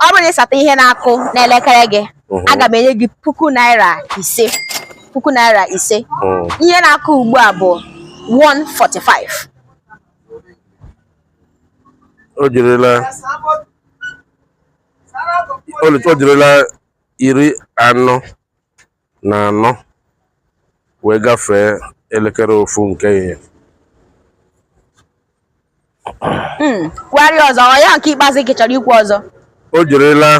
ọ bụrụ na ị sata ihe na-akụ n'elekere gị mhm. aga m enye gị puku naira ise puku naira ise mhm. ihe na-akụ ugbu a bụ 145 o jirila o jirila iri anọ na anọ wee gafee elekere ofu nke ehihie hmm, kwugharịa ọzọ ọ ya nke ikpeazụ gị chọrọ ikwu ọzọ o jirila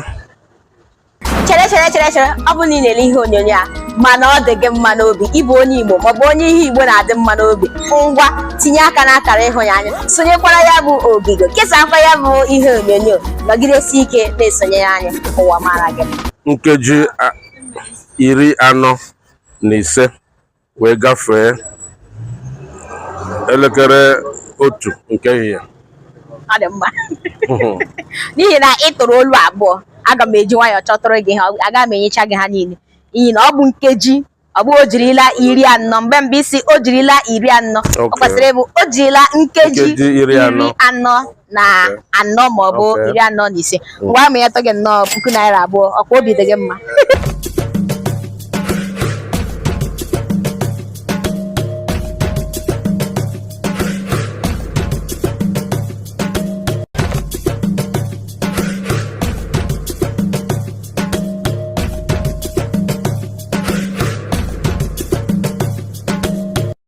chere chere chere chere ọ bụrụ na ị na-ele ihe onyonyo a mana ọ dị gị mma n'obi ịbụ onye Igbo maọbụ onye ihe Igbo na-adị mma n'obi ngwa tinye aka n'akara ịhụnanya sonyekwara ya bụ ogige kesakwa ya bụ ihe onyonyo nọgidesie ike na-esonyere anyị ụwa mara gị nkeji iri anọ na ise wee gafee elekere otu nke ehihie ọ dị mma n'ihi na ị tụrụ olu abụọ aga m eji nwayọọ chọtụrụ gị ha aga m enyecha gị ha niile n'ihi na ọ bụ nkeji ọ bụghị o jirila iri anọ mgbe mgbe ị sị o jirila iri anọ ọ Okay. kwesịrị ịbụ o jirila nkeji Nkeji iri anọ. anọ na anọ ma ọ bụ iri anọ na ise mm. ngwa ma ya tọ gị nnọọ puku naira abụọ ọkwa obi dị gị mma